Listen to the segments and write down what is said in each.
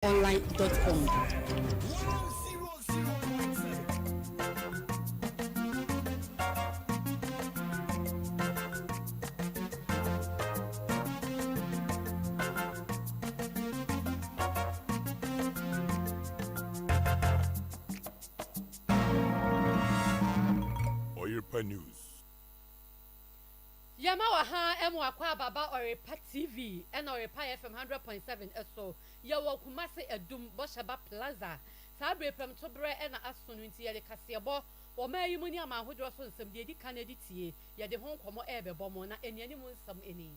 Online dot com. Oyerepa News. Yɛma wɔ ha ɛmo akwaaba ba Ɔyerepa TV ɛna Ɔyerepa FM hundred point seven ɛso. Yɛwɔ Kumasi Adum Bɔhyɛba Plaza. Saa bere prɛmto berɛ na aso no nti yɛde kaseɛbɔ, ɔman yi mu ne aman ahodoɔ so nsɛm deɛ ɛdi kan de tie, yɛde ho nkɔmmɔ rebɛbɔ mo, na nnianim nsɛm ni.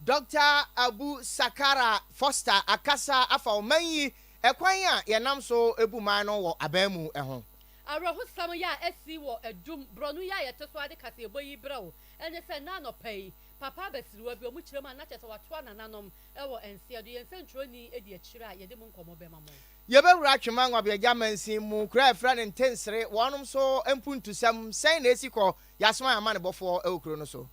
Dɔkta Abu Sakara Foster akasa afa ɔman yi kwan a yɛnam so bu man no wɔ aban mu ho. Awerɛhosɛm yɛ a asi wɔ Adum borɔno yi a yɛte so ara de kaseɛbɔ yi brɛ wo ne sɛ, nnɛ anɔpa yi, papa abasiriwa bi, wɔkyerɛ mu a na kyerɛ sɛ wɔatoa nananom Wɔ nsia do, yɛn sɛnkyerɛwnyi edi ekyir a yɛdze mo nkɔmbɔ bɛma mo. Yɛbɛwura Atwema Ngwabeagye amansin mu, kura a ɛfrɛ no Ntensere, wɔnom so mpuntusɛm, sɛn na ɛsi kɔ, yɛasoma yɛn amanebɔfoɔ wɔ kuro no so.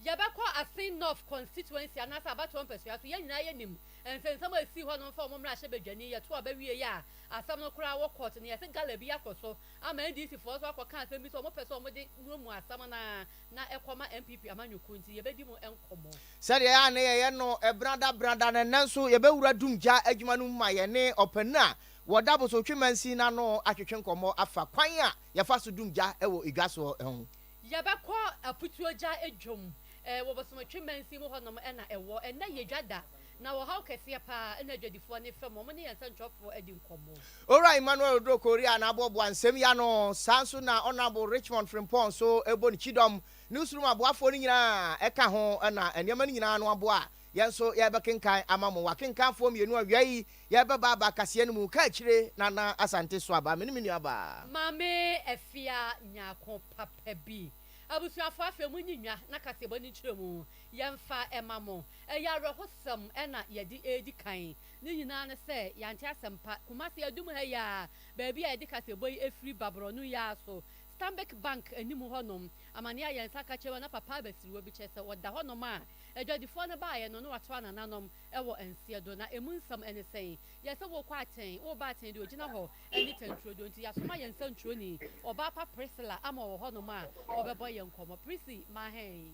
Yɛbɛkɔ Asin North constituency anaasɛ abatoɔ mpasua so, yɛn nyinaa yɛnim nsɛnsɛm a ɛsii hɔ no mfa wɔn mmarahyɛ badwani, yɛto aba wieeɛ a asɛm no koraa wɔ court na yɛse gala bi akɔ so ama NDC foɔ nso akɔ ka asɛm bi sɛ wɔpɛ sɛ wɔde muamua asɛm no ara Na ɛkɔma NPP amanyɔkuo nti yɛbɛdi mo nkɔmmɔ. Sɛdeɛ ɛyɛ a na yɛyɛ no brada brada no, ɛnnɛ nso yɛbɛwura dumgya adwuma no mu ma yɛne ɔpanin a wɔda Bosotwe Mansin no ano atwetwe nkɔmmɔ afa kwan a yɛfa so dum gya wɔ edwa soɔ ho. Yɛbɛkɔ afutuo gya dwam wɔ Bosomotwe Mansin mu hɔnom na ɛwɔ. Ɛnnɛ yɛ dwa da Na ɔhaw kɛseɛ pa ara na adwadifoɔ no fa mu, wɔne yɛn nsɛntwerɛfoɔ adi nkɔmmɔ. Owura Emmanuel Oduro Korey a n'aboɔboa nsɛm yi ano, saa nso na Honourable Richmond Frimpong nso bɔ ne kyidɔm. Newsroom aboafoɔ no nyinaa ka ho na nneɛma no nyinaa ano aboa. Yɛn nso yɛrebɛkenkan ama mo. W'akenkanfoɔ mmienu awia yi, yɛrebɛba aba kaseɛ no mu, Kaakyire Nana Asante Suaba. Mene me nuabaa. Maame Afia Nyarko papa bi. Abusuafoɔ afei monyi nnwa na kaseɛbɔ no nkyerɛmu. Yɛmfa mma mo. Ɛyɛ awerɛhosɛm na yɛde redi kan. Ne nyinaa ne sɛ yɛante asɛmpa. Kumasi adum ha yi ara, baabi a yɛde kaseɛbɔ yi afiri ba borɔno yi ara so, Stanbic Bank anim hɔnom, amanneɛ a yɛn nsa ka kyerɛ wo na papa abasiriwa bi kyerɛ sɛ ɔda hɔnom a adwadifoɔ no baeɛ no na wɔatra nananom wɔ nseɛ do. Na ɛmu nsɛm ne sɛn? Yɛ sɛ worekɔ atɛn, woreba atɛn deɛ ɔgyina hɔ ne tanturodoo nti yɛasoma yɛn nsɛnkyerɛwni, ɔbaa pa Priscilla ama ɔwɔ hɔnom a ɔbɛbɔ yɛn nkɔmmɔ. Prissy, ma hɛn.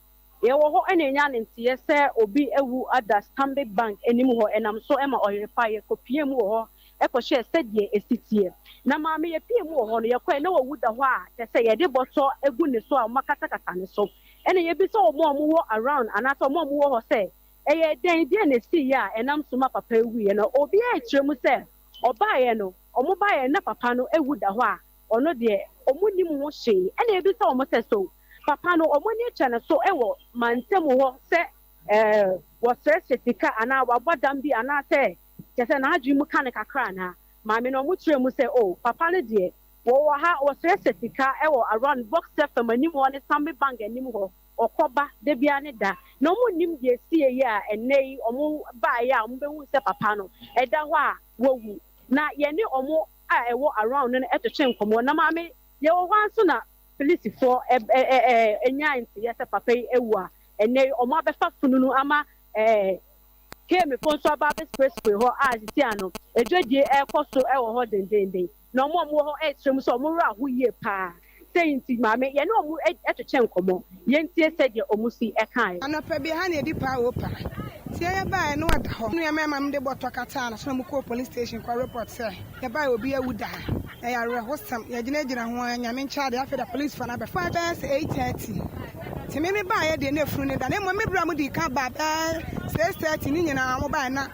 Yɛwɔ hɔ na yɛnya ne nteɛ sɛ obi awu ada Stanbic Bank anim hɔ, ɛnam so ma ɔyere pa. Yɛkɔpiee mu wɔ hɔ kɔhwɛɛ sɛdeɛ ɛsi teɛ. Na maame yɛpiee mu wɔ hɔ no, yɛkɔɛ na wawu da hɔ a kyerɛ sɛ yɛde bɔtɔ agu ne so a wɔakatakata ne so. Ɛna yɛbisa wɔn a wɔwɔ around anaasɛ wɔn a wɔwɔ hɔ sɛ ɛyɛ dɛn, deɛ na ɛsiiɛ a ɛnam so ma papa yi wuiɛ. Na obiara kyerɛ mu sɛ ɔbaeɛ no, wɔbaeɛ no na papa no awu da hɔ a. Ɔno deɛ ɔmo nim ho hwee ɛna ebisa ɔmo sɛ so papa no ɔmo ani kyɛ no so wɔ mantamu hɔ sɛ wɔsrɛsrɛ sika anaa wabɔ dam bi anaasɛ kyɛsɛ n'adwene mu ka no kakra anaa. Maame no ɔmo kyerɛ mu sɛ oh papa no deɛ wɔwɔ ha wɔsrɛsrɛ sika wɔ around boxer fam anim hɔ ne sammy bank anim hɔ ɔkɔ ba dabiaa ne da na ɔmo nnim deɛ ɛsieyɛ a ɛnnɛ yi ɔmo baeɛ a ɔmo bɛhuu sɛ papa no ɛda hɔ a wawu na yɛne ɔmo a ɛwɔ around no no twetwe nkɔmmɔ na maame yɛwɔ hɔ ara nso na Philistifoɔ ɛɛ nyae nteeɛ sɛ papa yi awu a ɛnnɛ yi wɔn abɛfa fununu ama ɛɛ Kemfoɔ nso aba abɛspray spray hɔ a sisi ano ɛdwadie ɛrekɔ so ɛwɔ hɔ dendeenden na wɔn a wɔwɔ hɔ ɛresrɛ mu sɛ wɔn werɛ aho yie paa. Sei nti, Maame, yɛne wɔn totwe nkɔmmɔ, yɛntie sɛdeɛ wɔn si kaeɛ. Anɔpa bi, ɛha na ɛdi paa oo paa. Nti yɛyɛ baeɛ na ɔda hɔ. Nua mmarima no de bɔtɔ kataa ne so na wɔkɔɔ police station kɔ report sɛ, Yɛbaeɛ, obi awu da ha. Ɛyɛ awerɛhosɛm. Yɛgyinagyina ho ara, Nyame nkyɛ adeɛ, afei da policefoɔ no abɛfa. Ɛfaa bɛyɛ sɛ eight thirty. Nti me mebaeɛ deɛ na afunu no da, na mmom me berɛ a modii kan baa bɛyɛ six thirty no nyinaa wɔbaeɛ na.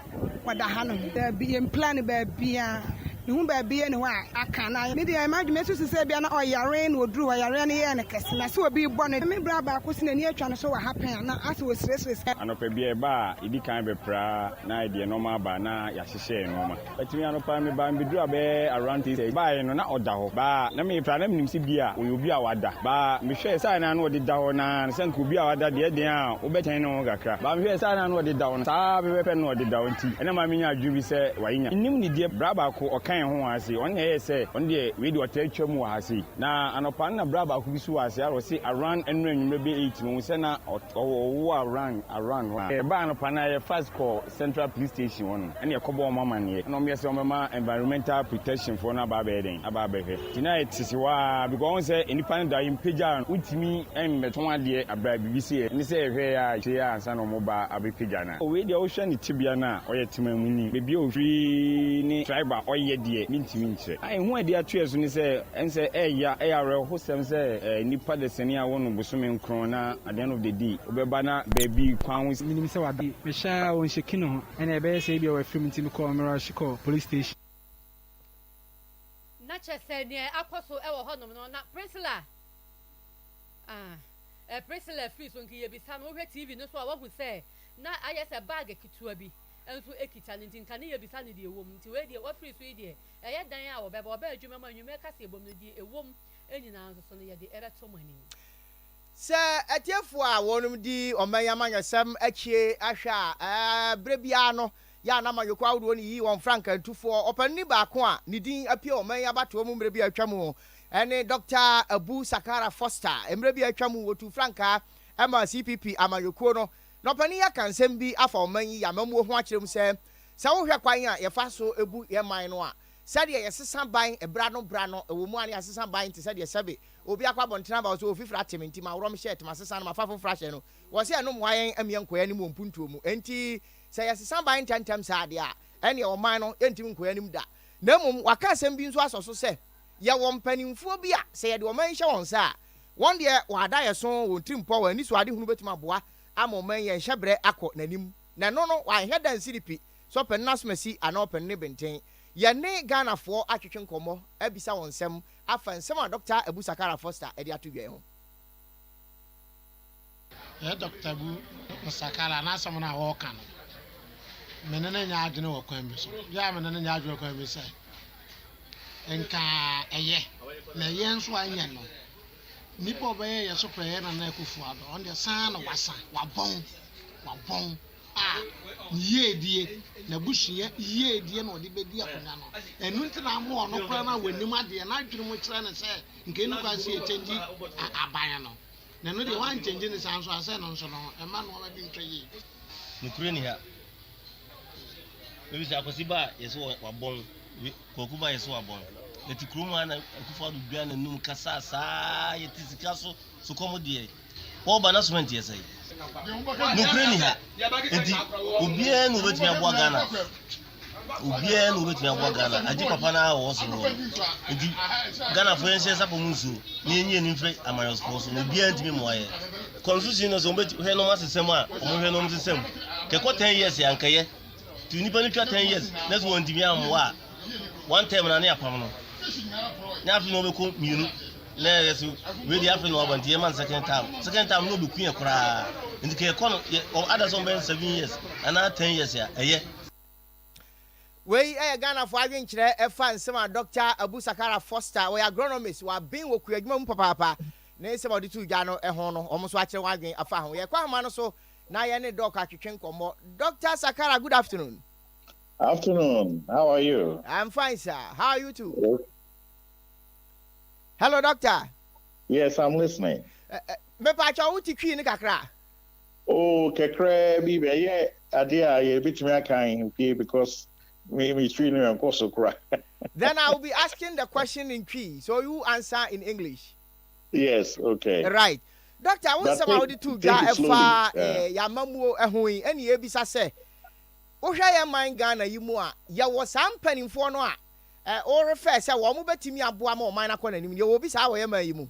wɔda ha no ho. Daabi, yɛn plan no baabia. Me hu baabi yɛ ne hɔ a aka na ayɛ. Me deɛ ma dwuma susu sɛ ebia na ɔyare na ɔduru hɔ yareɛ no yɛɛ no kɛse na sɛ obi bɔ no. Me bra baako si n'ani atwa no so wɔ ha pɛn a na asɛ ɔresresre sɛ. Anɔpa bia ɛba a yɛdi kan bɛpra na ayɛ deɛ nɔɔma aba na yɛahyehyɛ yɛn nɔɔma. Atumi anɔpa me baa me bɛduraa bɛyɛ around three thirty baeɛ no na ɔda hɔ baa na me pra na me nim sɛ bia ɔyɛ obi a wada baa me hwɛɛ sɛ a na na ɔde da hɔ na sɛ nka obi a wada deɛ ɛdeɛn a wo bɛtwɛn ne ho kakra baa me hwɛɛ sɛ a na na ɔde da hɔ. Saa ara pɛpɛɛpɛ na ɔdedaw nti na ɛma minya adwene bi sɛ wayenya. Nnim ne deɛ bra baako ɔkae ho wɔ ha sei, ɔno na ɛyɛɛ sɛ ɔno deɛ wei deɛ ɔtaa twa mu wɔ ha sei. Na anɔpa no na bra baako bi nso wɔ ha sei, ara ɔse around ɛnnora anwummerɛ bɛyɛ eight no, ɔhu sɛ na ɔwɔ ɔwɔ around around hɔ. Yɛbaa anɔpa no ara yɛ fast kɔɔ Central Police Station hɔ nom ɛna yɛkɔbɔɔ wɔn amanneɛ. Ɛna wɔyɛ sɛ wɔbɛma environmental protection foɔ no aba abɛyɛ dɛn? Aba abɛhwɛ. Gyinae tete hɔ ara because ɔhu sɛ nnipa no da yi mpagya a wontumi mmɛtɔn adeɛ abrɛ a biribi sieɛ ne sɛ ɛhwɛɛ a akyire a ansa na wɔba abɛpagya no a. Wei deɛ wohwɛ ne tebea no a ɔyɛ temamuni, baabi a ɔfiri ne tribe a ɔyɛ deɛ mentumi nkyerɛ. A ɛho a ɛde ato yɛn so ne sɛ ɛne sɛ ɛyɛ a ɛyɛ awerɛhosɛm sɛ nnipa da sini a wɔnom bosome nkron na at the end of the day wobɛba na baabi kwan ho. Menim sɛ waba. Mehwɛ ara a ɔnhyɛki ne ho. Ɛnna ɛbɛyɛ sɛ ebia wafiri mu nti mekɔɔ mmerɛw ahye kɔɔ police station. na kyerɛ sɛ nea akɔ so wɔ hɔnom no na Priscilla ah, Priscilla firi so nti yɛbisa no, wohwɛ TV no so a woahu sɛ na ayɛ sɛ bag ketewa bi nso kita no nti nka ne yɛbisa no deɛ ɛwɔ mu nti wei deɛ wafiri so yi deɛ ɛyɛ dan a wɔbɛba wɔbɛ adwuma mu anwummerɛ kaseɛ bom no deɛ ɛwɔ mu nyinaa nso so no yɛde ɛbɛto mo anim. Sɛ atiefoɔ a wɔnom di ɔman yi amanyɔsɛm akyie ahwɛ a ɛɛ berɛ biara no yɛ a na amanyɔkuo ahodoɔ no yiyi wɔn frankaatufoɔ. Ɔpanini baako a ne din apue ɔman yi abatoɔ mu mmerɛ bi a atwam ne Dɔkta Abu Sakara Foster. Mmerɛ bi a atwam, wɔtuu frankaa maa CPP amanyɔkuo no. Na ɔpanin yi aka nsɛm bi afa ɔman yi yamamuo ho akyerɛ mu sɛ, Sɛ wohwɛ kwan a yɛfa so bu yɛn man no a, sɛdeɛ yɛsesa ban bra no bra no, ɛwɔ mu ara na yɛasesa ban te sɛ deɛ sɛbe obi akɔ abɔntene aba hɔ sɛ ɔfifiri ate me nti maworɔ me hyɛɛte masesa no mafa foforɔ ahyɛ no. Wɔse ɛno mmoa yɛn mmeɛ nkɔ yɛn anim wɔ mpuntuo mu. Enti. Sɛ yɛsesa ban ntɛmntɛm saa de a, ɛnneɛ ɔman no rentumi nkɔ anim da. Na mmom, wɔaka asɛm bi nso asɔ so sɛ, Yɛwɔ mpanimfoɔ bi a, sɛ yɛde ɔman yi hyɛ wɔn nsa a, wɔn deɛ wɔn adaeɛso, wɔn atirimpɔ, wɔn anisoadehunu bɛtumi aboa ama ɔman yi anhyɛ berɛ akɔ n'anim. Na ɛno no, wɔanhwɛ da nsi ne pi, sɛ ɔpɛ no n'asomasi anaa ɔpɛ no ne benten. Yɛne Ghanafoɔ atwetwe nkɔmmɔ abisa wɔn nsɛm afa nsɛm a Dɔkta Abu Sakara Foster de ato dwa yi ho. Ɛyɛ Dɔkta Bu Nsakala n'asɛm no a ɔreka no, me ne no nyɛ adwene wɔ kwan bi so. Bia a me ne no nyɛ adwene wɔ kwan bi sɛ, nka ɛyɛ, na ɛyɛ nso a ɛnyɛ no. Nipa a ɔbɛyɛ yɛ so pɛɛ yɛ Nana Akufo Addo. Ɔno deɛ saa na wasa, wabɔn, wabɔn a ne yiedie, n'abusua yiedie na ɔde bɛdi akonwa no. Ɛno nti na ama ɔno koraa no a wɔnim adeɛ no adwene mu kyerɛ no sɛ, nka ɛnni kwan sɛ yɛkyɛngyi aban no. Na ɛno deɛ woankyɛngye no saa nso a, sɛ ɛno nso no, mma nnoɔma bi ntɔ yie. Nokorɛ ni ha. Mebisa Akwasi ba a yɛse wɔ wabɔn, we Kwaku ba a yɛse wabɔn. Yɛte kurom ha na Akufo Addo dwaa n'anum kasaa saa yɛte sika so sukɔm deɛ. Wɔba na cement yɛ sɛe. Nokorɛ ni ha. Enti obiara na obetumi aboa Ghana. obiara na obetumi aboa ghana agye papa no a wɔwɔ so no nti ghanafoɔ yɛnhyɛ nsa pɔ mu nsuo na yɛnyɛ ani mfiri amanyɔsfoɔ so na obiara ntumi mmoa yɛ constitution no sɛ wɔbɛhwɛ nom asesɛm a wɔhwɛ nom sesɛm kɛkɔ 10 years ankɛyɛ nti nnipa no twa 10 years na sɛ wɔntumi ammoa a one term na ne apam no ne afe na wɔbɛkɔ mmienu na ɛyɛ so wei afe na wɔaba nti yɛma no second term second term na ɔbɛku yɛ koraa nti kɛkɔ no ada sɛ wɔbɛyɛ 7 years anaa 10 years a ɛyɛ Wei yɛ Ghanafoɔ adwenkyerɛ ɛfa nsɛm a Dɔkta Abu Sakara Foster, ɔyɛ agronomist, waben wɔ kuadwuma mu papaapa, ne nsɛm a ɔde too dwa no ho no, wɔn nso akyerɛ wɔn adwene afa ho. Yɛkɔ ahoma no so na yɛne Doc atwetwe nkɔmmɔ. Dɔkta Sakara, good afternoon. Afternoon, how are you? I'm fine, sir. How are you too? Yes. Hello, doctor. Yes, I'm listening. Mepa atwa wo ti twi ne kakra. Oh kakraa bi ɛyɛ adeɛ a yɛ bɛtumi akan okay because me me twi no ɛnkɔ so koraa. Then I will be asking the question in Twi so you answer in English. Yes okay. Right. Doctor wo nsɛm a wode too dwa ɛfa eh yamamuo ɛho yi ɛne yɛbisa sɛ wohwɛ yɛ man Ghana yi mu a yɛwɔ saa mpaninfoɔ no a eh wo refɛɛ sɛ wɔn bɛtumi aboa ma ɔman no akɔ nanim no yɛwɔ bi saa wɔ yɛ man yi mu?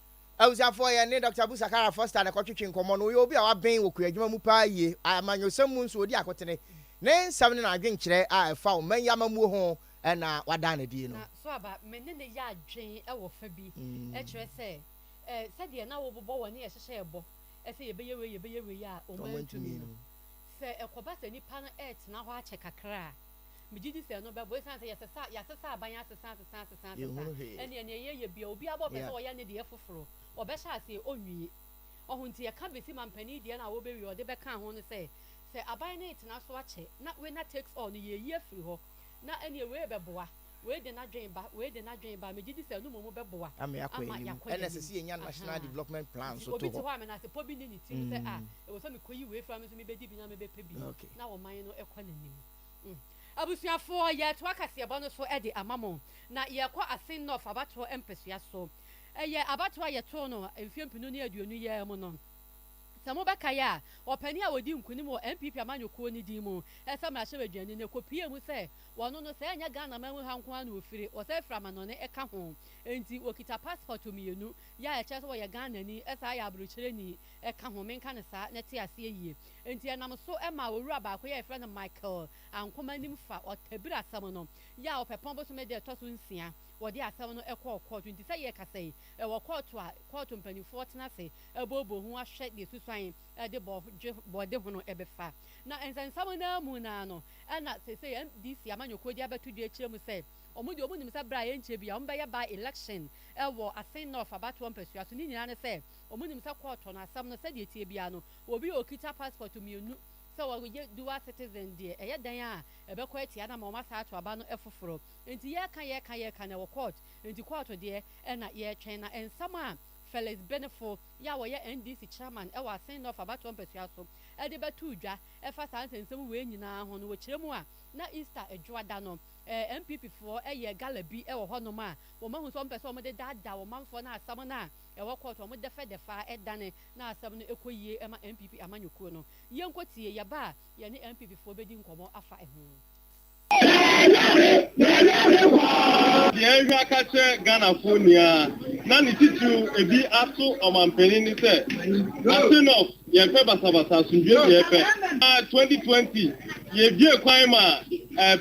Abusuafoɔ, yɛn ne Dɔkta Abu Sakara Foster na ɛkɔtwetwee nkɔmmɔ no. Ɔyɛ obi a waben wɔ kuadwuma mu paa yie. Amanyɔsɛm mu nso, ɔdi akotene. Ne nsɛm ne n'adwenkyerɛ a ɛfa ɔman yi amammuo ho na wadaa no adi no. So aba me ne no yɛ adwene wɔ fa bi? Kyerɛ sɛ, sɛdeɛ na wobobɔ wɔ ne yɛhyehyɛ ɛbɔ sɛ yɛbɛyɛ wei, yɛbɛyɛ wei a ɔmantumi no. Sɛ ɛkɔba sɛ nipa no retena hɔ akyɛ kakra a. Megye di sɛ ɛno bɛboa, esiane sɛ yɛsesa, yɛasesa aban asesa, asesa, asesa, asesa, ɛnneɛ nea yɛyɛ biara, obiara bɛpɛ sɛ ɔyɛ ne deɛ foforo, ɔbɛhyɛ aseɛ, ɔnwie. Ɔho nti yɛka bɛsi manpanin deɛ no a ɔbɛwie, ɔde bɛka ho no sɛ, sɛ aban no retena so akyɛ, na winner takes all no, yɛreyi afiri hɔ, na ɛnneɛ wei rebɛboa, Wei de n'adwene ba, wei de n'adwene ba, megye di sɛ ɛno mmom bɛboa ama yɛakɔ yɛn anim. Ɛna ɛsɛ sɛ yɛnya national development plan nso to hɔ. Nti obi te hɔ a menasepɔ bi nni ne tirim sɛ ah, ɛwɔ sɛ mekɔyi wei fra me nso mebɛdi bi na mebɛpɛ bi na ɔman no kɔ n'anim. Abusuafoɔ, yɛretoa kaseɛbɔ no so de ama mo, na yɛrekɔ Asin North abatoɔ mpɛsoa so. Ɛyɛ abatoɔ a yɛtoo no mfeɛ mpenu ne aduonu yi ara mu no. Sɛ mobɛkae a, ɔpanin a ɔdii nkunim wɔ NPP amanyɔkuo no din mu, Ɛsɛ Mmarahyɛbadwani no, ɛkɔpuee mu sɛ Wɔn no, sɛ ɛnyɛ Ghana man mu ha nko ara na wɔfiri, wɔsan firi amanɔne ka ho. Enti wɔkita passport mmienu, yɛ a ɛkyerɛ sɛ wɔyɛ Ghanani, ɛsan yɛ aborokyerɛni ka ho, menka no saa na ɛte aseɛ yie. Enti ɛnam so maa owura baako, yɛ a yɛfrɛ no Michael Ankomah nim fa Ɔtabiri asɛm no, yɛ a ɔpɛpɔn bosome da a ɛtɔ so nsia, wɔde asɛm no kɔɔ kɔɔto. Enti sɛ yɛrekasa yi, ɛwɔ kɔɔto a kɔɔto mpanimfoɔ tena ase booboo ho ahwɛ deɛ susuan. de bɔ dwe bɔ de hono ɛbɛ fa na nsɛnsɛm no ara mu no ara no ɛna sesei MDC amanyɔkuo de abɛto dwa akyerɛ mu sɛ wɔn deɛ wɔn nim sɛ berɛ a ɛnkyɛ bia wɔn bɛyɛ by election wɔ Asen North abatoɔ mpasua so ne nyinaa ne sɛ wɔn nim sɛ kɔɔtɔ no asɛm no sɛdeɛ ɛteɛ biara no obi a ɔkita passport mmienu sɛ wɔyɛ dual citizen deɛ ɛyɛ dɛn a ɛbɛkɔ atia no ama wɔn asan ato aba no foforɔ nti yɛreka yɛreka yɛreka na ɛwɔ kɔɔt nti kɔɔto deɛ ɛna yɛretwɛn na nsɛm a Felix Benefo yi a ɔyɛ NDC chairman wɔ Asen North abatoɔ mpasua so de bɛtoo dwa fa saa nsɛnsɛm wei nyinaa ho no, wɔkyerɛ mu a, na Easter dwoada no, NPP foɔ yɛɛ gala bi wɔ hɔnom a wɔahu sɛ wɔpɛ sɛ wɔde daadaa ɔmanfoɔ na asɛm no a ɛwɔ kɔɔto no, wɔdɛfɛdɛfɛ ara dane na asɛm no kɔ yie ma NPP amanyɔkuo no. Yɛnkɔtie, yɛba a yɛne NPP foɔ bɛdi nkɔmmɔ afa ho. Deɛ ɛhwɛ aka kyerɛ Ghanafoɔ ni ara na ne titiriw ebi ato ɔmanpanin ne sɛ, Ase North yɛmpɛ basabasa, asomdwoeɛ deɛ yɛpɛ. Na 2020 yɛbuee kwan maa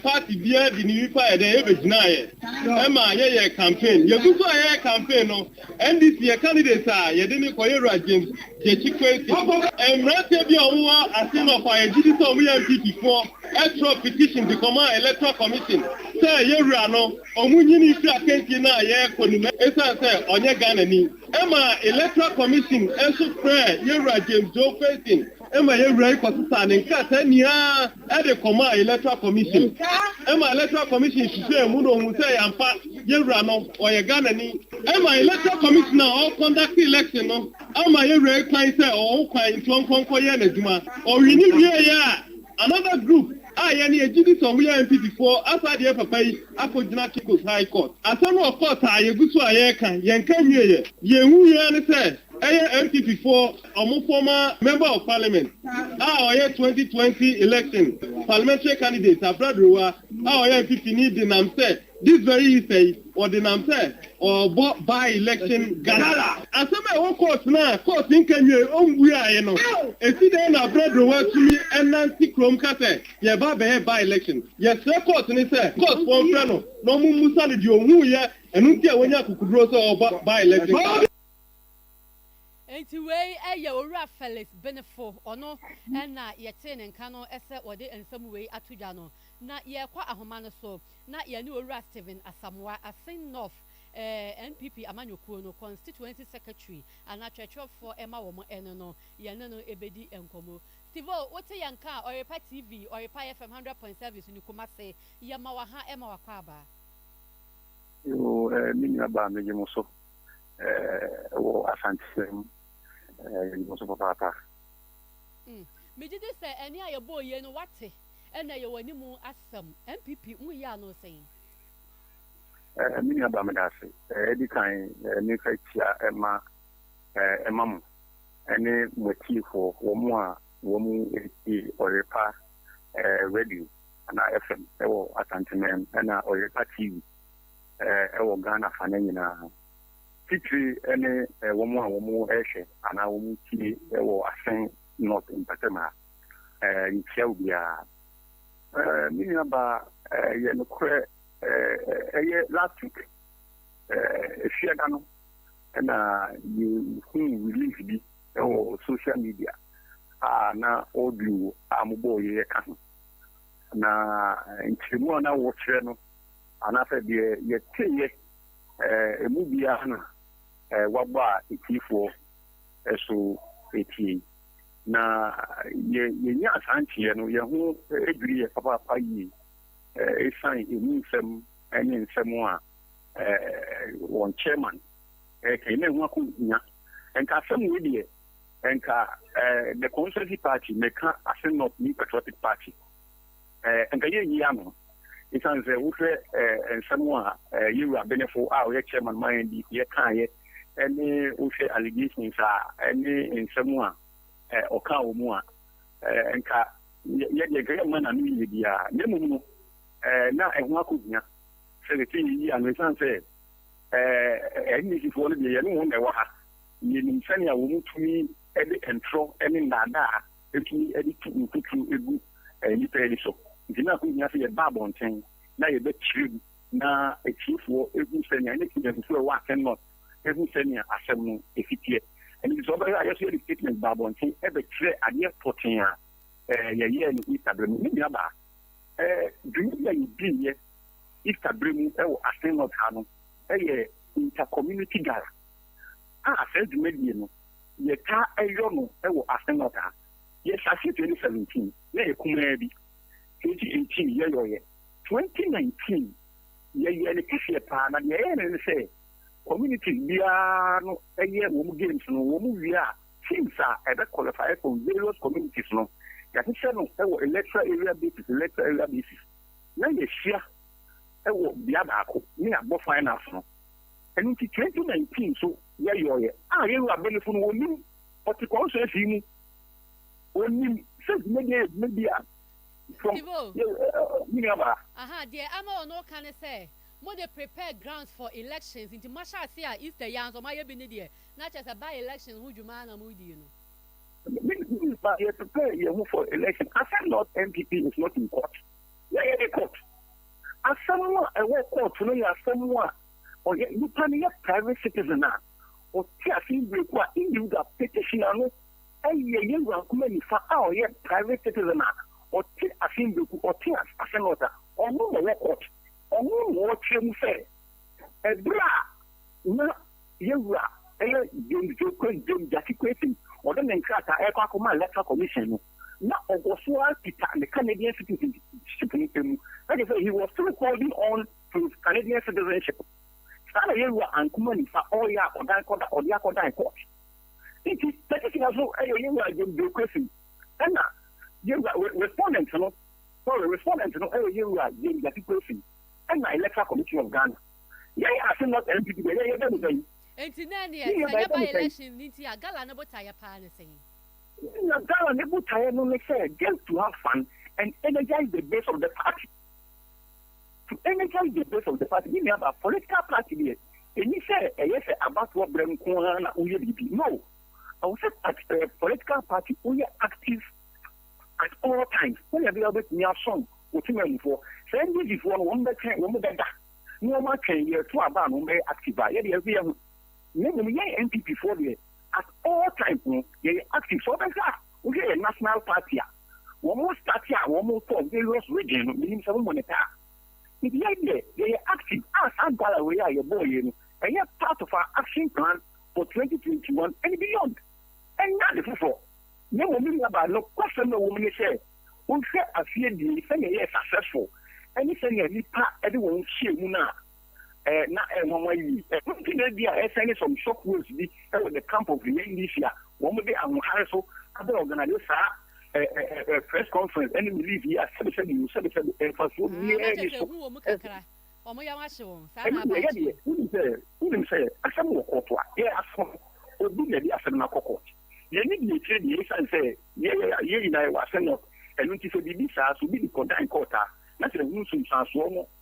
party biara de ne nipa yɛ dɛn, ɛbɛgyinaeɛ ma yɛyɛɛ campaign. Yɛgu so a yɛyɛ campaign no, NDC yɛ candidate a yɛde no kɔyɛ wura James Gyekyi Quacy. Mmranteɛ bi a wɔn wɔ ase no ɔfaa yɛn gyidi sɛ wɔn yɛ NPP foɔ ɛtwerɛ petition de kɔmaa electoral commission sɛ yɛn wura no wɔn nyini firi akansie no a yɛrekɔ no mu ɛsiane sɛ ɔnyɛ Ghanani ɛmaa electoral commission nso frɛɛ yɛn wura James Joe Quacy ma yɛn wura yi kɔsesaa ne nkrataa nyinaa de kɔmaa Electoral Commission ma Electoral Commission hwehwɛɛ mu na ohuu sɛ ɛyɛ ampa, yɛn wura no ɔyɛ Ghanani. Ɛma Electoral Commission a ɔrekɔndakte election no ama yɛn wura yi kwan sɛ ɔwɔ ho kwan nti ɔnkɔ nkɔyɛ n'adwuma. Ɔwini wieeɛ a, another group a yɛn yɛgye di sɛ wɔyɛ NPP foɔ asan de yɛn papa yi akɔgyina Caicos High Court. Asɛm no wɔ court a yɛgu so a yɛreka, yɛnka nwieeɛ. Deɛ yɛhu yi ara ne sɛ ɛyɛ NPP foɔ. wɔn former member of parliament a ɔyɛ twenty twenty election parliamentary candidate Abra Durowa a ɔyɛ mfifini denam sɛ this very Easter yi ɔdenam sɛ ɔrebɔ by election gala. Asɛm a ɛwɔ court no a court nka nwiei ɔmbuaeɛ no, ɛsi dɛn na Abra Durowa atumi ɛnante kurom ka sɛ yɛreba abɛyɛ by election? Yɛsrɛ court no sɛ court foɔ mfrɛ no na wɔn mmusa no deɛ ɔhuiɛ ɛno nti a wanya akokuduro sɛ ɔrebɔ by election gala. Enti wei yɛ Owura Felix Benefo, ɔno na yɛtee ne nka no sɛ ɔde nsɛm wei ato dwa no. Na yɛrekɔ ahoma no so na yɛne Owura Stephen Asamoah, Asin North NPP amanyɔkuo no Constituency Secretary anaa twerɛtwerɛfoɔ ɛma wɔn no no, yɛne no bɛdi nkɔmmɔ. Steve o, wote yɛn nka a, Ɔrepa TV, Ɔrepa FM hundred point seven so ne Kumasi, yɛma wo aha ma wakwaaba. Yoo ɛɛ me nua baa megye mo so. eh, wɔ asankyeɛ mu eh, yɛnim nso papaapa. Mm. Megye di sɛ ɛne a yɛbɔɔ yie no wate ɛna yɛwɔ anim asɛm NPP mu yɛ ano sɛn. Eh, me nua ba meda ase. Eh, ɛdi kan eh, mefa kyia ɛma eh, ɛma mo ɛne mo atiefoɔ wɔn mu a wɔn mu ɛtie ɔyerepa eh, radio anaa FM ɛwɔ Asanteman ɛna ɔyerepa TV. wɔ Ghana fa no nyinaa, titire ne wɔn a wɔhwɛ anaa wɔtie wɔ Asen North mpɔtam ha. Yɛkyia obiara. Me nuabaa, ɛyɛ nokorɛ, ɛyɛ last week, Efiada no na yɛhuu release bi wɔ social media a na audio a mobɔeɛ ka ho, na nkyerɛmu a na wɔkyerɛ no Anaasɛ deɛ yɛteeɛ mu biara na wɔabɔ a ɛtiefoɔ so tie yi? Na yɛnyaa saa nteeɛ no, yɛn ho dwirii yɛn papaapa yie ɛsiane ɛmu nsɛm ne nsɛm a wɔn Chairman reka yi. Na ɛho akɔhia. Nka asɛm wei deɛ nka The Constituency Party, meka Asin North New Patriotic Party, anka yenyi ano esiane sɛ wohwɛ nsɛm a yɛn wura Benefo a ɔyɛ chairman ma NDC yɛ kaeɛ ne wohwɛ allegations a ne nsɛm a ɔkaa wɔ mu a nka yɛ deɛ nka yɛ mma n'ano yie biara na mmom no na ɛho akɔhia sɛ sɛ sɛ yɛyi ano esiane sɛ NDCfoɔ no deɛ yɛne wɔn na ɛwɔ ha yɛnim sɛnea wɔn tumi de ntorɔ ne nnaadaa betumi de tu mfuturu gu nnipa ani so. Enti na ɛho hia sɛ yɛba abɔnten na yɛbɛkyerɛw na atiefoɔ hu sɛnea, ne Ghanafoɔ a ɛwɔ Akan North hu sɛnea asɛm no si teɛ. Ɛno nti sɛ ɔbɛyɛ a, yɛn nso yɛde statement ba abɔnten bɛkyerɛ adeɛ pɔtee a yɛyɛɛ no Easter berɛ mu. Me nuabaa, dwumadi a yɛdiiɛ Easter berɛ mu wɔ Akan North ha no yɛ Inter-Community Gala, a saa dwumadie no, Yɛtaa yɔ no wɔ asen hɔ daa. Yɛhyɛ ase twenty seventeen na yɛ kumaa bi, twenty eighteen yɛyɔeɛ, twenty nineteen yɛyɛɛ no kɛseɛ paa na deɛ yɛyɛ no ne sɛ communities biara no yɛ wɔn games no wɔn wie a teams a ɛbɛ qualify from various communities no yɛahyehyɛ no wɔ electoral area basis electoral area basis na yɛahyia wɔ bea baako na yɛabɔ finals no ɛno nti twenty nineteen nso Yɛyɔeɛ a yɛn Wurabanifo no wɔnim, wɔte kɔn so afie mu, wɔnim sɛ dwumadie yɛ dwumadie a from yɛ me nua baa. Aha deɛ ama wɔn reka ne sɛ mo de prepare grounds for elections nti mo ahyɛ aseɛ a Easter yi ara nso mo ayɛ bi ne deɛ na kyerɛ sɛ by election ho dwuma ara na mo redie no. Me me ba yɛ prepare yɛn ho for election asɛm not NPP is not in court yɛyɛ ne court asɛm a ɛwɔ court no yɛ asɛm a. ɔyɛ nipa no yɛ private citizen a ɔte ase mbereku a individual petitioner no yɛ yɛn wura Nkrumah nifa a ɔyɛ private citizen a ɔte ase mbereku ɔte ase north a ɔno na ɔwɔ court ɔno na ɔkyerɛ mu sɛ ɛbere a na yɛn wura ɛyɛ James Joe Kwesi James Gyakye Kwesi ɔde ne nkrataa ɛkɔ akɔma electoral commission no na ɔwɔ so ara kita ne Canadian citizenship no mu ɛkyɛ sɛ he was still holding on Through Canadian citizenship. Saa na Yehowa ankoma nifa ɔyɛ akɔdan kɔda ɔde akɔdan court. Enti petition no so yɛ Yehowa adwom bureaucracy. Ɛna Yehowa re respondent no, sorry, respondent no yɛ Yehowa gyamgyatocracy ɛna Electoral Commission of Ghana. Yɛn ase North NPP deɛ yɛn yɛbɛ no bɛyi. Enti na ɛneɛ sɛ ɛnyɛ by election no nti a Gala no botaeɛ paa ne sɛn? Na Gala no botaeɛ no ne sɛ just to have fun and energize the base of the party. To any count the base of the party, me nua baa, political party deɛ, ɛnni sɛ ɛyɛ sɛ abatoɔ berɛ nko ara na woyɛ biribi, no, ɛwɔ sɛ at a political party woyɛ active at all times, sɛdeɛ ɛbɛyɛ a wobɛtumi asɔn wo temanmufoɔ. Saa NDC foɔ no, wɔn bɛtwɛn, wɔn bɛda na wɔn atwɛn yɛreto aba a na wɔn bɛyɛ active a, yɛdeɛ ɛnso yɛho, na mmom yɛn NPP foɔ deɛ, at all times no yɛyɛ active, sɛ wobɛhwɛ a, wohwɛ yɛn national party a, Wɔn starte a wɔn kɔɔ various region no menim sɛ momo no pɛ a. Biribiara deɛ yɛyɛ active a saa gala wei a yɛbɔɔ yei no ɛyɛ part of our action plan for twenty twenty one and beyond. Ɛnyɛ ade foforɔ na mmom me nua baa nokwasɛm a ɛwɔ mu ne sɛ wo hwɛ afie abien sɛnea ɛyɛɛ successful ɛne sɛnea nnipa de wɔn ho hyɛɛ mu no a, na ɛyɛ nwanwa yiye. Ɛno nti na ebia asiane some shock waves bi wɔ the camp of the NDC a wɔde ahoɔhare so abɛ organise saa press conference ne relief yi a sɛbesɛbe o, sɛbesɛbe, mfasoɔ biara nni so. Ɛno deɛ yɛ deɛ, wonim sɛ, wonim sɛ asɛm wɔ kɔɔto a, yɛ asɛm no, obi na ɛde asɛm no akɔ court. Yɛn ne deɛ akyire deɛ, esiane sɛ yɛ yɛ nyinaa yɛwɔ asɛnnɔ, ɛno nti sɛ biribi saa, sɛ obi de kɔ dan court a, na sɛ ɛho nsunsuansoɔ no,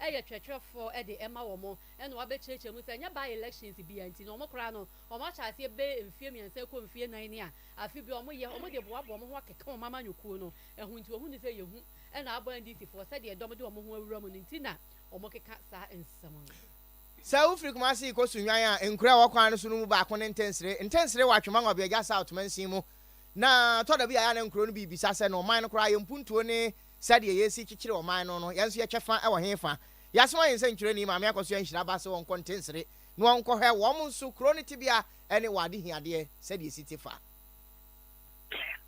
yɛ kyerɛkyerɛfoɔ de ma wɔn na wɔabɛkyerɛkyerɛ mu sɛ ɛnyɛ by elections biara nti na wɔn koraa no wɔn ahyɛ aseɛ bɛyɛ mfeɛ mmiɛnsa rekɔ mfeɛ nnan ne a afe biara wɔn yɛ wɔn de boaboa wɔn ho akeka wɔn amanyɔkuo no ho nti wɔhunu sɛ yɛhu na abɔ NDC foɔ sɛdeɛ dɔm de wɔn ho awura mu no nti na wɔn keka saa nsɛm no. Sɛ wo firi Kumasi rekɔ Sunyani a, nkuro a ɛwɔ kwan no so no mu baako ne Ntensere. Ntensere wɔ Atwemang Ɔbeagya South mansin mu na ɛtɔ da bi a ɛyɛ a na nkuro no bi rebisa sɛ na ɔman no koraa ayɛ mpuntuo ne Sɛdeɛ yɛresi kyekyere ɔman no no, yɛn nso yɛtwɛ fa wɔ he fa? Yɛasoma yɛn nsɛnkyerɛnni Maame Akɔsoɛ Nhyira ba sɛ ɔnkɔ Ntensere na ɔnkɔhwɛ wɔn nso kuro no tebea ne wɔn adehiadeɛ sɛdeɛ ɛsi te fa.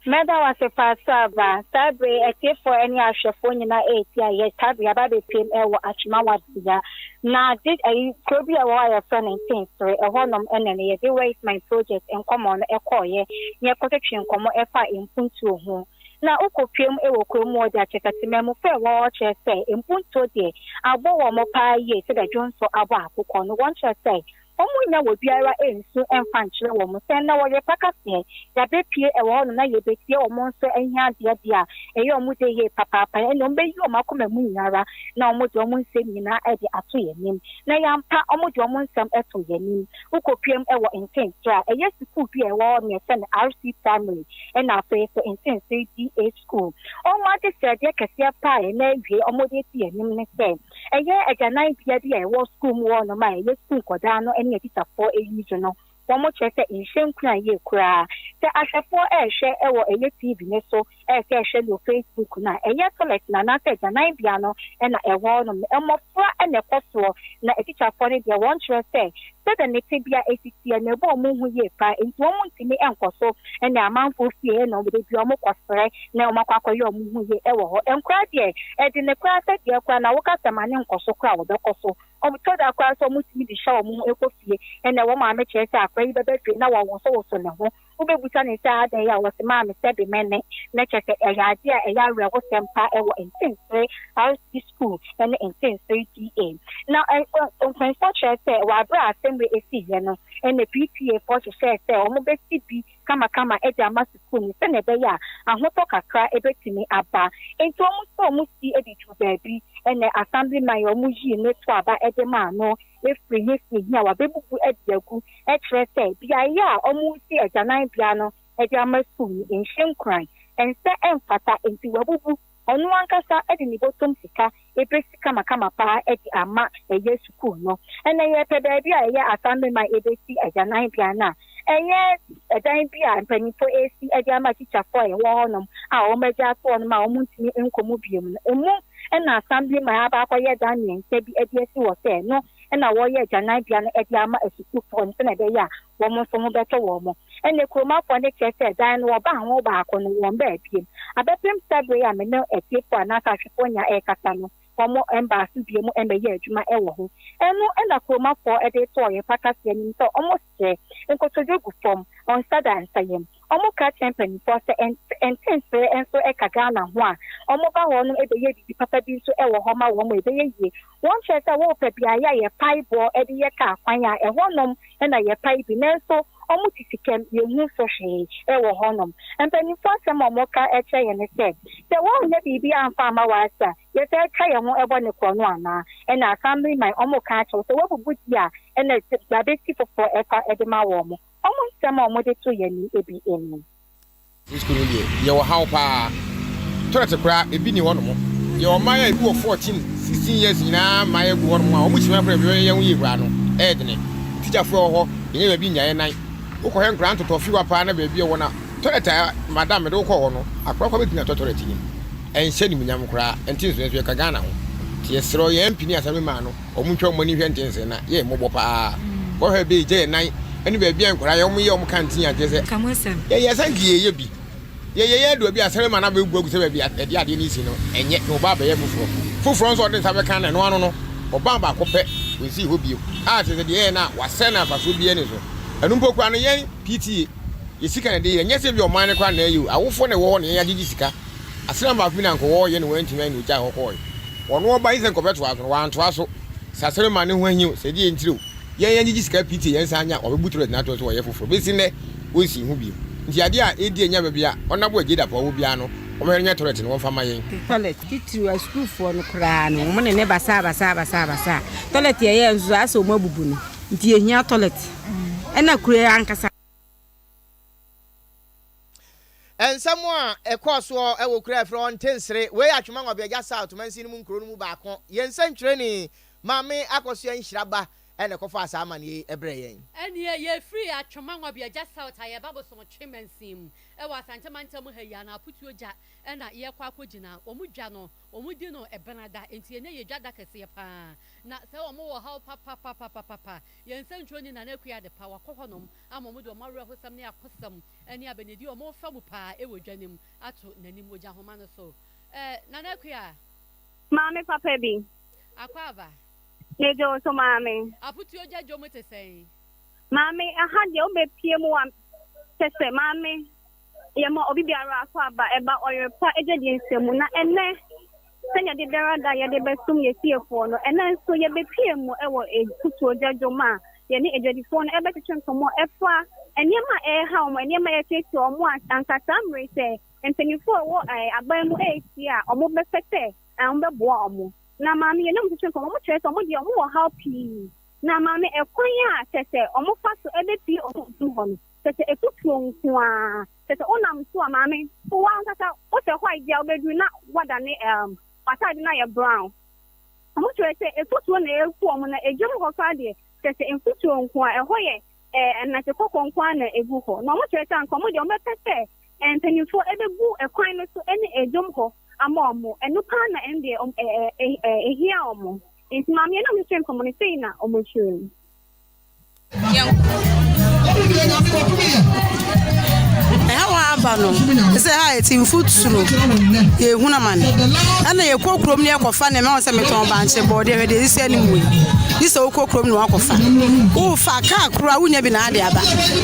Mɛda wo ase paa Sir Ba. Saa berɛ yi, atiefoɔ ne ahwɛfoɔ nyinaa reti a yɛtaa de aba abɛpiem wɔ Atwema Wardbea. Na de ayi kuro bi a ɛwɔ hɔ a yɛfrɛ no Ntensere, ɛhɔnom na ne yɛde Where is my project nkɔmmɔ no kɔeɛ na yɛkɔtwetwee nkɔmmɔ faa mpuntuo ho. na wokopuem wɔ kurom wɔ dza Chekatema mu fɛɛ hɔ ɔkyerɛ sɛ mpontuo deɛ abɔ wɔn paa yie sɛdeɛ dwonsɔ abɔ akokɔ no wɔn kyerɛ sɛ wɔn nnya wɔ biara nsu mfa nkyerɛ wɔn sɛ nnɛ wɔyɛ pakaseɛ yabɛpie wɔ hɔ nom na yɛbɛtie wɔn nso ahiadeɛ deɛ a ɛyɛ wɔn dɛ yie papaapa no ɛne wɔn bɛyi wɔn akoma mu nyina ara na wɔn de wɔn nsɛm nyina ara de ato yɛn anim na yɛampa wɔn de wɔn nsɛm to yɛn anim Wokopiam wɔ Ntenkyea a ɛyɛ sukuu bi a ɛwɔ hɔ nea ɛsɛn RC Primary ɛna afei nso Ntenseɛ DA School. Wɔn adesrɛdeɛ kɛseɛ pa a ɛna awie a wɔde asi yɛn anim ne sɛ ɛyɛ agyananbea bi a ɛwɔ sukuu mu hɔnom a ɛyɛ sukuu nkwadaa no ne abisafoɔ ani so no wɔkyerɛ sɛ nhyɛ nkuran yie koraa sɛ ahwɛfoɔ rehwɛ wɔ ɛyɛ TV no so Ɛyɛ sɛ ɛhwɛ no wɔ Facebook no a, ɛnyɛ tɔlɛt no anaasɛ agyananbea no na ɛwɔ hɔnom no, mmofra na ɛkɔ soɔ, na atikyafoɔ no deɛ, wɔnkyerɛ sɛ sɛdeɛ ne tebea asi teɛ no, ɛbɔ wɔn hu yie paa, enti wɔntumi nkɔ so ne amanfoɔ fie nom, berɛ biara wɔkɔsrɛ na wɔakɔ akɔyɛ wɔn ho yie wɔ hɔ. Nkwadaa deɛ, ɛde ne koraa sɛ deɛ koraa na woka sɛ ma no nkɔ so koraa a, wɔbɛkɔ so. Ɛtɔ da koraa nso a, wɔtumi de hyɛ wɔn ho kɔ fie, na wɔn maame kyerɛ sɛ akwadaa yi bɛba fie na wɔwosowoso ne ho. Wobɛbusa ne sɛ, Adɛn a wɔsomaa me sɛ bemmɛ ne? Na kyerɛ sɛ ɛyɛ adeɛ a ɛyɛ awerɛhosɛm pa ara wɔ Nkyensee RC Sukuu ne Nkyensee TA. Na mfonsoɔ kyerɛ sɛ wɔ aberɛ a asɛmmerɛ ɛsiiɛ no na PTA foɔ hyehyɛɛ sɛ wɔbɛsi bi kamakama de ama sukuu no sɛdeɛ ɛbɛyɛ a ahotɔ kakra bɛtumi aba. Enti wɔn nso wɔsi de duru baabi. Ɛnna Assemblyman a wɔyii no to aba de maa no. afiri he fi he a wɔabebubu adi agu, kyerɛ sɛ, beaeɛ a wɔresi agyananbea no de ama sum no nhyɛ nkuran, ɛnsɛ, ɛmfata, nti wɔabubu. Ɔno ankasa de ne bɔtɔm sika besi kamakama paa de ama yɛ sukuu no. Ɛnna yɛrepɛ baabi a ɛyɛ asamema a yɛbesi agyananbea no a Ɛnyɛ dan bi a mpanyimfo resi de ama tikyafoɔ a ɛwɔ hɔnom a wɔagya ato hɔnom a wɔntumi nkɔ mu bio no. Emu na Assemblyman aba akɔyɛ dan mmiɛnsa bi de asi hɔ sɛ ɛno na wɔreyɛ agyananbea no de ama asukuufoɔ no sɛnea ɛbɛyɛ a wɔn nso ho bɛtɔ wɔn. Ɛnna kuromafoɔ no kyerɛ sɛ dan no wɔbaa ho baako no, wɔmmaa bio. Abɛpem sɛ bere yi a me ne atiefoɔ anaasɛ ahwɛfoɔ nyinaa rekasa no, wɔmmaa so bio mmɛyɛɛ adwuma wɔ ho. Ɛno na kuromafoɔ de too ɔyɛfo akaseɛ anim sɛ wɔn Hwɛ, nkotodwe gu fam, wɔn nsa da nsa yam. Wɔka kyerɛ mpanimfoɔ sɛ ntenseɛ nso ka Ghana ho a, wɔba hɔ no bɛyɛ biribi papa bi nso wɔ hɔ ma wɔn a ɛbɛyɛ yie. Wɔnkyerɛ sɛ wɔpɛ beaeɛ a yɛpae boɔ de yɛ kaa kwan a, ɛhɔnom na yɛpae bi nanso wɔte sikam, yɛnhu so hwee wɔ hɔnom. Mpanimfoɔ asɛm a wɔka kyerɛ yɛn ne sɛ, sɛ wɔannya biribi amfa amma wɔ ase a, Yɛtaa twa yɛn ho bɔ ne korɔno anaa? Ɛna asammere man ɔmo ka akyerɛ wo sɛ wabubu di a ɛna yabesi foforɔ ɛfa de ma wɔn mo. Ɔmo nsɛm a ɔmo de to yɛn nim ebi eni. Frisco no deɛ yɛ wɔ haw paa toilet koraa ebi ni hɔ nom yɛ ɔman a ebi wɔ fourteen sixteen years nyinaa mmaeɛ gu hɔ nom a ɔmo kyimi afra ebi yɛ ho yie koraa no ɛyɛ dene teacher foɔ ɛwɔ hɔ yɛnyɛ baabi nnya yɛ nan wokɔ hɛ nkoraa ntotɔ fiwa paa na baabi ɛwɔ na toilet a madam mede wokɔ hɔ no akoraa koraa bɛtumi atɔ toilet nim. ɛnhyɛ animuonyam koraa ɛnte nsoɛ nso yɛka Ghana ho nti yɛsrɛ yɛn MP ne Assembly man no wɔn ntwa wɔn ani nhwɛ nte nsoɛ na yɛ yɛn mmɔbɔ paa bɔhwɛ ɛbɛ egya yɛn nan ɛne baabi a nkwadaa yɛ wɔn yɛ wɔn kantin yɛ ankyerɛ sɛ yɛyɛ ɛsɛ nti yɛ yɛ bi yɛ yɛ yɛ adua bi Assembly man abɛ gu agu sɛ baabi ɛde adeɛ ne si no ɛnyɛ na ɔba abɛ yɛ foforɔ foforɔ nso ɔde nsa bɛ kan na ɛno ano no ɔban baako pɛ ɔnsii hɔ bio a kyerɛ sɛ deɛ yɛyɛ no a wasɛe na mfasoɔ biara ni so ɛno mpo koraa no yɛn PTA yɛ sika na ɛde yɛ ɛnyɛ sɛ bi ɔman no koraa na ɛyɛ o awofoɔ na ɛwɔ hɔ na yɛn agyegye sika Asram baako bi na anka ɔwɔ yɛ na wantumi ayɛ na ogyae hɔ kɔe. Ɔno ɔba yi sɛ anka ɔbɛtoa so no, wantoa so. Sasere ma ne ho ahi o, sɛ deɛ ntire o, yɛn yɛngyegye sika pii te yɛn nsa anya a, wabebu toilet no ato so wayɛ foforɔ. Besi nnɛ, onsii ho bio. Nti adeɛ a edi anya bɛbea ɔnabo a Jadap a ɔwɔ biara no, wɔmɛhwɛ no nyɛ toilet no wɔmfa mma yɛn. Toilet, titiriw asukuufoɔ no koraa no, wɔn ne ne basaa basaa basaa basaa. Toilet a ɛyɛɛ nso ayɛ sɛ wɔn abubu no. Nti yɛhia toilet. Ɛna kuro yi ankasa. Nsɛm a ɛkɔɔ soɔ wɔ kuro a yɛfrɛ hɔ Ntensere, wei yɛ Atwema Ngwabeagya South mansin no mu nkuro no mu baako, yɛn nsɛnkyerɛni Maame Akosua Nhyiraba na ɛkɔfaa saa amaneɛ yi brɛɛ yɛn. Ɛnneɛ yɛfiri Atwema Ngwabeagya South a yɛreba Bosomtwe mansin mu wɔ Asante mantam ha yi a, na Aputuo gya na yɛrekɔ akɔgyina, wɔn dwa no wɔdi no bena da, enti ɛnnɛ yɛ dwa da kɛseɛ pa ara, na sɛ wɔwɔ haw papapapapapa, yɛn nsɛnkyerɛni Nana Akua Adepa wakɔ hɔnom, ama wɔde wɔn awerɛhosɛm ne akosɛm ne abɛnedi a wɔrefa mu paa wɔ dwa no mu ato n'anim wɔ gyahoma no so. Eh, Nana Akua. Maame papa bi. Akwaaba. Megye wo so, maame. Apotuo gya dwom te sɛn? Maame, ɛha deɛ wobɛpie mu a, kyɛ sɛ, maame. Yɛma obi biara akwaaba ɛba ɔyere pa agyedie nsɛm mu, na ɛnnɛ, sɛdeɛ da biara da yɛde bɛsom yɛn fiefoɔ no, ɛnnɛ nso yɛbɛpue mu wɔ afutuogya dwom a yɛne adwadifoɔ no rebɛtwetwe nkɔmmɔ ɛfa nneɛma a ɛreha wɔn, nneɛma a ɛretiatia wɔn a anka saa mmerɛ yi sɛ mpaninfoɔ a wɔwɔ aban mu rehyia a wɔbɛpɛ sɛ wɔbɛboa wɔn. Na maame yɛne wɔn twetwe nkɔmmɔ, wɔkyerɛ sɛ wɔn deɛ wɔwɔ haw pii, na maame ɛkwan a kyerɛ sɛ wɔfa so bɛpue wɔn mfiri hɔ no, Kyerɛ sɛ ɛtoturo nko ara. Kyerɛ sɛ wonam so a maame wo ankasa wosɛ white bi a wobɛduru na woadane um w'ataade no ayɛ brown. Wɔn kyerɛ sɛ ɛtoturo na ɛreku wɔn na ɛdwam hɔ koraa deɛ kyerɛ sɛ mfuturo nko ara. Ɛhɔ yɛ eh anase kɔkɔɔ nko ara na ɛgu hɔ. Na wɔn kyerɛ sɛ anka wɔn deɛ wɔbɛpɛ sɛ eh mpanimfoɔ ɛbɛgu ɛkwan no so ɛne ɛdwam hɔ ama wɔn. Ɛno paa na ɛno deɛ wɔn eh eh eh ɛhia wɔn. Nti maame no a wɔhwehwɛ mfam no sei na wɔkyerɛ mu. ɛhaw a aba no te sɛ ha a ɛte mfuturo yɛhunu amane ɛna yɛkɔ kurom ne yɛkɔfa nneɛma wɔ sɛ metɔn bankye bɔɔde hwɛ deɛ ɛsi anim wei ne sɛ wokɔ kurom na wakɔfa wofa kaa koro a wonya bi na ade aba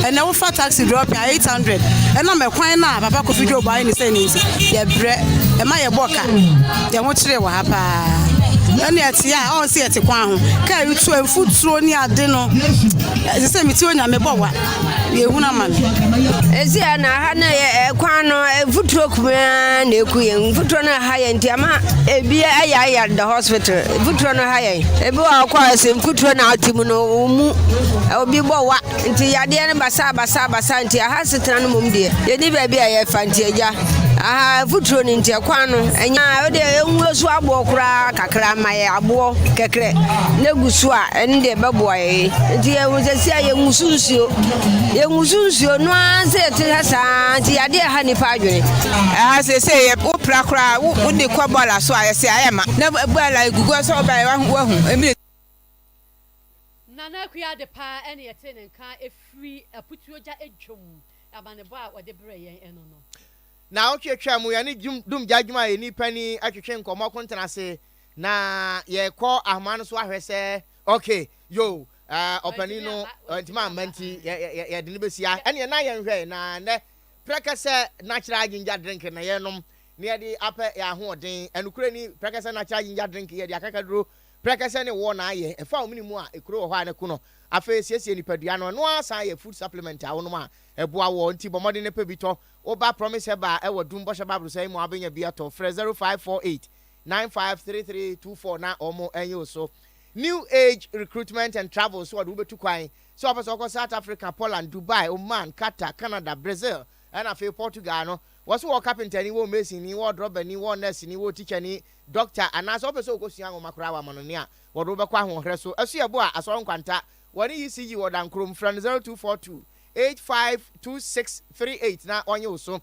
ɛnɛ wofa taxi drop a 800 ɛna mɛkwan no a papa kofi dwobo ayɛ ne sɛ ne nti yɛbrɛ ɛma yɛbɔ ka yɛho kyerɛ wɔ ha paa ɛne te a ɔn sɛ yɛte kwan ho kaa retu a mfuturo ne ade no ɛsɛ sɛ mete onyame bɔ wa yɛhunu ama no ɛsi a na ha no yɛ kwan no mfuturo kumaa na ɛku yɛ mfuturo no ha yɛ nti ama ebi ayɛ ayɛ the hospital mfuturo no ha yɛ ebi wɔ kɔ ɛsɛ mfuturo na ɔte mu no ɔmu obi bɔ wa Nti yadeɛ no basaa basaa basaa nti aha setena no mom deɛ yɛni baabi a yɛfa nti agya aha futuro no nti ɛkwan no ɛnyɛ ɛde ɛnwuo so aboɔ koraa kakra ma yɛ aboɔ kɛkrɛ na gu so a ɛne deɛ ɛbɛboa yɛ nti yɛhu sɛ si a yɛngu so nsuo yɛngu so nsuo no ara sɛ yɛte ha saa nti yadeɛ ha nipa adwene ɛha sɛ sɛ yɛ wo pra koraa wode kɔ bɔɔla so a yɛsɛ ayɛ ma na bɔɔla gugu sɛ ɔbɛyɛ wahu ɛmire Nana Akua Adepa ne yɛtee ne nka firi Aputuo Gya Dwom amanebɔ a ɔde brɛɛ yɛn no no. Naawɔtwe atwaa mu yɛne Dwom Dum Gya Adwumayɛni Panin twetwe nkɔmmɔ akontena ase na yɛrekɔ ahoma no so ahwɛ sɛ ok yo ɔpanin no ɔantumi amma nti yɛde no bɛsi ha ɛneɛ na yɛnhwɛ na nɛ prɛkɛsɛ natural ginger drink na yɛnom na yɛde apɛ yɛ ahoɔden ɛnokorɛ ni prɛkɛsɛ natural ginger drink yɛde akakaduro Prɛkɛsɛ ne woɔ na ayɛ. Ɛfa omini mu a, ekuro wɔ hɔ a ne ko no. Afei siesie nipadua no. Ɛno ara san yɛ food supplement a wonom a ɛboa woɔ. Nti bɔ mmɔden na pɛ bi tɔ. Wo ba Promise Herbal a ɛwɔ Dum Bɔhyɛ Bible Sɛe mu a wobɛnya bi atɔ. Frɛ zero five four eight, nine five three three two four na wɔanyi wo so. New Age Recruitment and Travel nso wɔde wo bɛtu kwan. Sɛ wopɛ sɛ wokɔ South Africa, Poland, Dubai, Oman, Qatar, Canada, Brazil ɛna afei Portugal no, wɔse wɔwɔ kapentani, wɔwɔ masonni, wɔwɔ drɔbani, wɔwɔ nɛɛseni, wɔwɔ tikyani, dɔkta anaasɛ wopɛ sɛ wokɔsua nwoma koraa a, wɔama no nea wɔde wo bɛkɔ ahoɔherɛ so. Ɛso yɛ bo a, Asɔre Nkwanta, wɔne ECG wɔ Dankorom. Frɛ no 0242 852638 na wɔnye wo so.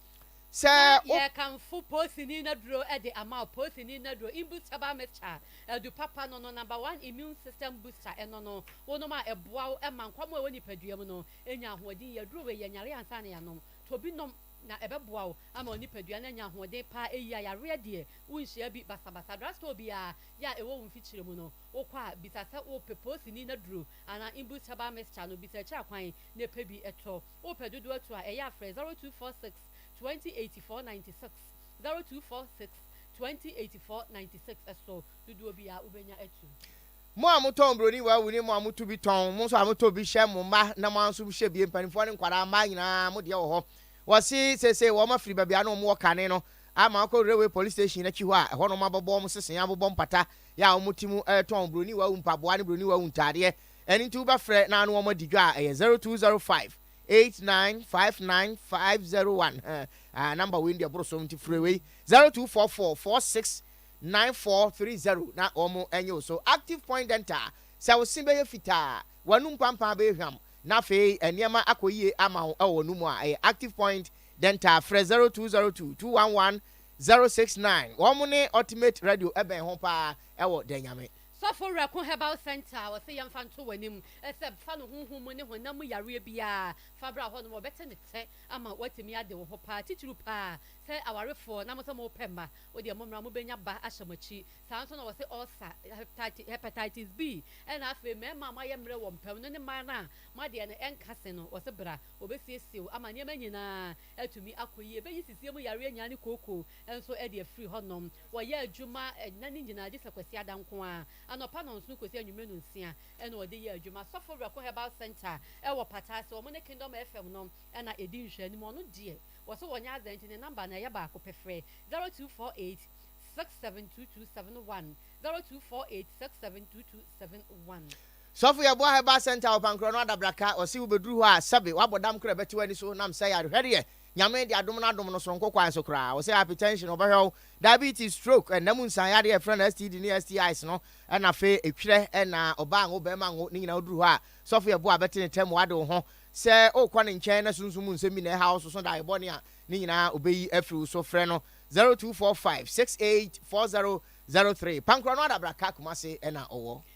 Sɛ Na wo. yɛkamfo Poosini Nnaduro de ama wo. Poosini Nnaduro, Imbutabal Mixture, Adu Papa no no Number One Immune System Booster, ɛno no, wonom a ɛboa wo ma nkwammoa a ɛwɔ nipadua mu no nya ahoɔden yie. Aduro wei, yɛ nyare ansa na yɛanom. Tɔ bi nom na ɛbɛboa wo ama wo nipadua no anya ahoɔden paa, ɛyi ayareɛ deɛ. Wonhyia bi basabasa. Drug store biara yɛ a ɛwɔ wo mfikyire mu no, wokɔ a, bisa sɛ wopɛ poosini no aduro anaa Imbus herbal mixture no. Bisa akyiri akwan na ɛpɛ bi tɔ. Wopɛ dodoɔ atu a, ɛyɛ a frɛ 0246 20 84 96, 0246 20 84 96 so. Dodoɔ biara wobɛnya atu. Mo a motɔn buroni wawu ne mo a motu bi tɔn, mo nso a motɔ bi hyɛ mo mma na mo ara nso mohyɛ bi, mpanimfoɔ ne nkwadaa, mmaa nyinaa mo deɛ wɔ hɔ. Wɔse seesei wɔafiri baabi a na wɔwɔ kane no ama wɔakɔ Railway Police Station akyi hɔ a ɛhɔ na wɔabɛbɔ wɔn sesee, abobɔ mpata, yɛ a wɔte mu retɔn Buroni Wawu mpaboa ne Buroni Wawu ntaadeɛ. Ɛno nti wobɛfrɛ na ne wɔn adi dwa a, ɛyɛ 0205 89 59 501 he, ah, number wei deɛ ɛboro so nti frɛ wei 0244 46 9430 na wɔn nye wo so. Active Point Dental, sɛ wo se bɛyɛ fitaa a, w'anum pampaa bɛyɛ hwam na afei nneɛma akɔ yie ama wo wɔ w'anum mu a, ɛyɛ Active Point Dɛnta frɛ zero two zero two two one one zero six nine wɔn ne ultimate radio ɛbɛn ho paa ɛwɔ dɛ nyame. Sɔfo werɛ ko herbal centre a ɔse yɛmfa nto w'anim sɛ fa no honhom mu ne honam mu yareɛ biaa fa bra hɔ nom wɔbɛte ne tɛ ama watumi ade wo ho paa titiriw paa sɛ awarefoɔ na mo sɛ mo pɛ mma wodeɛ mo mmra mo bɛnya ba ahyɛ mo akyi saa nso na wɔse ulcer hepatitis B ɛna afei mmarima a mo ayɛ mmerɛ wɔ mpam no ne mmaa no a mo adeɛ no ɛnka se no wɔse bra Obesiesie wo ama nneɛma nyina ara atumi akɔ yie. Bɛyi sisie mu yareɛ nyaa ne kooko nso de afiri hɔnom. Wɔyɛ adwuma nna no nyinaa gyesɛ Kwasiada nko ara. Anɔpa nɔnson kɔsi anwumerɛ nonsia na wɔde yɛ adwuma. Sɔfo Werɛko Herbal Centre ɛwɔ Pata ase, wɔn ne Kingdom FM no na ɛdi nhwɛanim. Ɔno deɛ wɔse wɔnyɛ adɛ nti ne number no ɛyɛ baako pɛ. Frɛ 0248 672271, 0248 672271. Sɔfo Yeboah Herbal Centre wɔ Pankorɔ no Adabraka, ɔse wobeduru hɔ a sɛbe wabɔ dam kora bɛte w'ani so nam sɛ yarehwɛdeɛ Nyame de adom no adom no soronko kwan so koraa. Ɔse hypertension ɔbɛhwɛ wo, diabetes, stroke, ɛnna mu nsan yadeɛ a yɛfrɛ no STD ne STIs no ɛna afei etwerɛ ɛna ɔbaa ngo bɛɛma ngo ne nyinaa woduru hɔ a Sɔfo Yeboah bɛte ne tɛm wade wo ho sɛ okɔ ne nkyɛn na sunsum mu nsɛm bi na ɛha wo soso daeɛ bɔne a ne nyinaa obeyi afiri wo so frɛ no 0245 68 4003 Pankorɔ no Adabraka, Kumase ɛna ɔwɔ.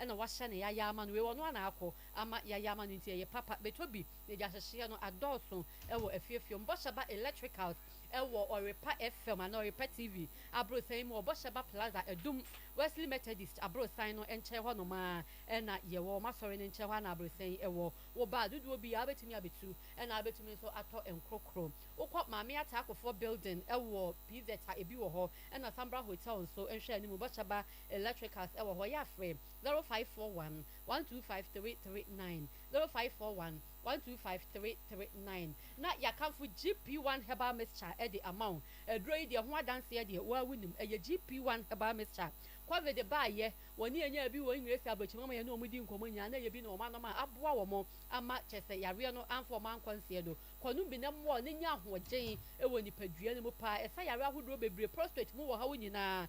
ɛna wahyɛ no yaya ama no wei ɔno ara na akɔ ama yaya ama no nti ɛyɛ papa bɛtɔ bi na ɛdi ahyehyeɛ no adɔɔso wɔ afiefie mu bɔhyɛ ba electricals wɔ ɔrepa FM anaa ɔrepa TV aborosan mu wɔ bɔhyɛ ba plaza adum Wesley Methodist aborosan no nkyɛn hɔ nom ara ɛna yɛwɔ wɔn asɔre no nkyɛn hɔ ara na aborosan yi wɔ wo ba a dodoɔ bi ara wobɛtumi abɛtu ɛna wobɛtumi nso atɔ nkorokoro wokɔ maame ataa akofoɔ building wɔ pz a ɛbi wɔ hɔ ɛna Sambra hotel nso nhwɛ anim bɔhyɛ ba Electricals wɔ hɔ, yɛafrɛ, 0541 125 339, 0541 125 339, na yɛakamfo GP one herbal mixture de ama wo. Aduro yi deɛ, ho adanseɛ deɛ, wo ara wonim, ɛyɛ GP one herbal mixture. Covid baeɛ, wɔne yɛn nyaa bi wɔ Engeresi Aborɔkyim ama yɛne wɔn dii nkɔmmɔ nyinaa, na ɛyɛ bi na wɔanom a, aboa wɔn ama kyerɛ sɛ yareɛ no amfa wɔn ankɔ nseɛ do. Kɔ nom bi na ɛmmoa wo na nya ahoɔden wɔ nipadua no mu paa. Ɛsa yareɛ ahodoɔ bebree, prostate mu ɔhaw nyinaa,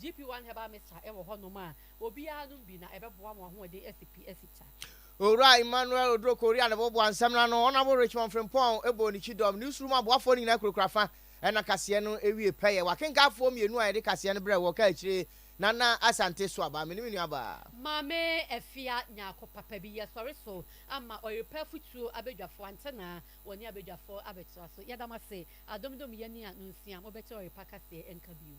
GP one herbal mixture wɔ hɔ nom a obiara nom bi na ɛbɛboa mo ahoɔden asi pi asi ta. Owura Emmanuel Oduro Korea ne Boboa Nsɛmna no, Honourable Richmond Frimpong bɔɔ ne kyidɔm. Newsroom aboafoɔ no nyinaa kurakura fa na kaseɛ no wie pɛyɛ. W'akenkanfoɔ mmienu a yɛde kaseɛ no brɛɛ wɔ kaa akyire, Nana Asante Suaba, me ne me nuabaa. Maame Afia Nyarko papa bi yɛsɔre so ama ɔrepɛ afutuo abadwafoɔ antenaa wɔne abadwafoɔ abɛtoa so. Yɛda mo ase Adomdom yɛ nea nsia mobɛte ɔrepa kaseɛ nka bio.